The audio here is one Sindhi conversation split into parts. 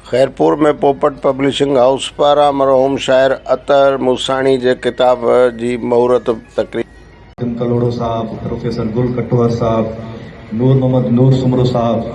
خيرپور ۾ پوپٽ پبلشنگ هائوس پاران مرحوم شاعر اطهر موساڻي جي ڪتاب جي مهورت تقريب. خادم ڪلهوڙو صاحب، پروفيسر گل ڪٽوهر صاحب، نور محمد نور سومرو صاحب،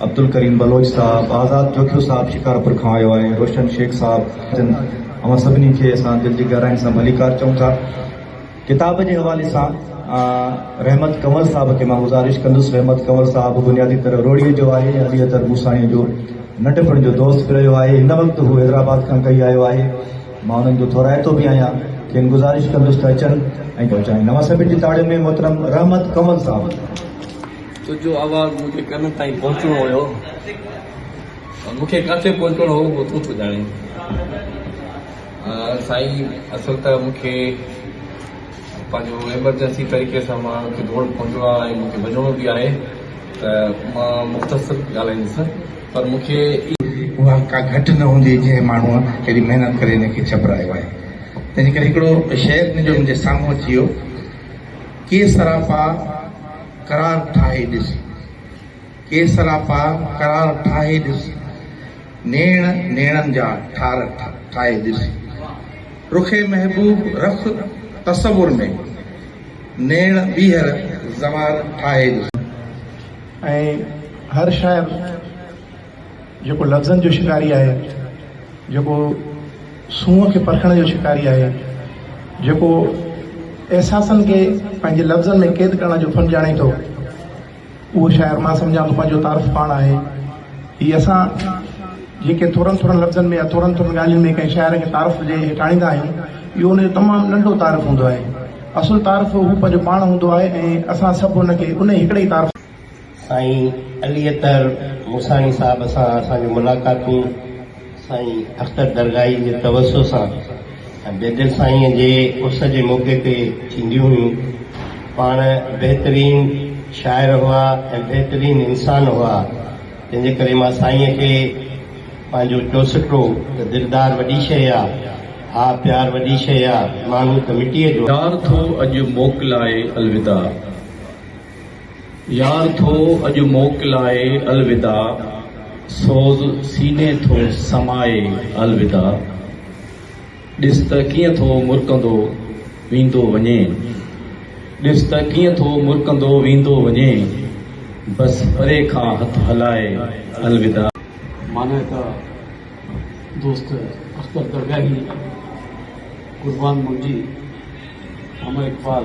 عبدالڪريم بلوچ صاحب، آزاد جوکيو صاحب شڪارپور کان آيو آهي، روشن شيخ صاحب، اوهان سڀني کي اسان دل جي گهراين سان ڀليڪار چئون ٿا. ڪتاب جي حوالي سان رحمت ڪنور صاحب کي مان گذارش ڪندس رحمت ڪنور صاحب بنيادي طرح روهڙي جو آهي علي اطهر موساڻي جو ننڍپڻ جو دوست به رهيو آهي هن وقت هو حيدرآباد کان ڪهي آيو آهي مان انهن جو ٿورائتو به آهيان کين گذارش ڪندس ته اچن ۽ پهچائين اوهان سڀن جي تاڙين ۾ محترم رحمت ڪنور صاحب تنهنجو آواز مون جي ڪنن تائين پهچڻو هيو پر مون کي ڪاٿي پهچڻو هو اهو تون ٿو ڄاڻين سائين اصل ته مون کي پنهنجو ايمرجنسي طريقي سان مان اتي ڊوڙ پهتو آهيان ۽ مون کي وڃڻو به آهي ته مان مختصر ڳالهائيندس پر مون کي. اها ڪا گهٽ نه هوندي جنهن ماڻهوء ايڏي محنت ڪري هن کي ڇپرايو آهي تنهنجي ڪري هڪڙو شعر هن جو منهنجي سامهون اچي ويو ڪي سراپا قرار ٺاهي ڏس. ڪي سراپا قرار ٺاهي ڏس. نيڻ نيڻن جا ٺار ٺاهي ڏس. رخ محبوب رخ تصور ۾. نيڻ ٻيهر زوار ٺاهي ڏس. ۽ هر شاعر جيڪو لفظن جو شڪاري آهي، جيڪو سونهن کي پرکڻ جو شڪاري آهي، جيڪو احساسن کي پنهنجي لفظن ۾ قيد ڪرڻ جو فن ڄاڻي ٿو، اهو شاعر مان سمجهان ٿو پنهنجو تعارف پاڻ آهي. هي اسان جيڪي ٿورن ٿورن لفظن ۾ يا ٿورن ٿورن ڳالهين ۾ ڪنهن شاعر کي تعارف جي هيٺ آڻيندا آهيون، اهو ان جو تمام ننڍو تعارف هوندو آهي. اصل تعارف هو پنهنجو پاڻ هوندو آهي ۽ اسان سڀ هن کي انهي هڪڙي ئي تعارف. سائين علي اطهر موساڻي صاحب سان اسان جون ملاقاتون. سائين اختر درگاهي جي توسع سان بيدل سائينء جي عرس جي موقعي تي ٿينديون هيون. پاڻ بهترين شاعر هئا ۽ بهترين انسان هئا، تنهن جي ڪري مان سائينء کي پنهنجو چوسٽو ته دلدار وڏي شيء آ، ها پيار وڏي شيء آ، ماڻهو ته مٽيء جو. ڊار ٿو اڄ موڪلائي الوداع. يار ٿو اڄ موڪلائي الوداع سوز سيني ٿو سمائي الوداع ڏس ته ڪيئن ٿو مرڪندو ويندو وڃي ڏس ته ڪيئن ٿو مرڪندو ويندو وڃي بس پري کان هٿ هلائي الوداع. معنيٰ ته دوست اختر درگاهي قربان منهنجي امر اقبال.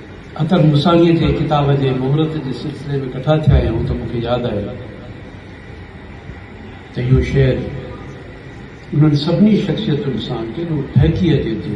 اختر موساڻيء جي ڪتاب جي مهورت جي سلسلي ۾ ڪٺا ٿيا آهيون ته مون کي ياد آيو ته اهو شعر انهن سڀني شخصيتن سان ڪيڏو ٺهڪي اچي ٿو.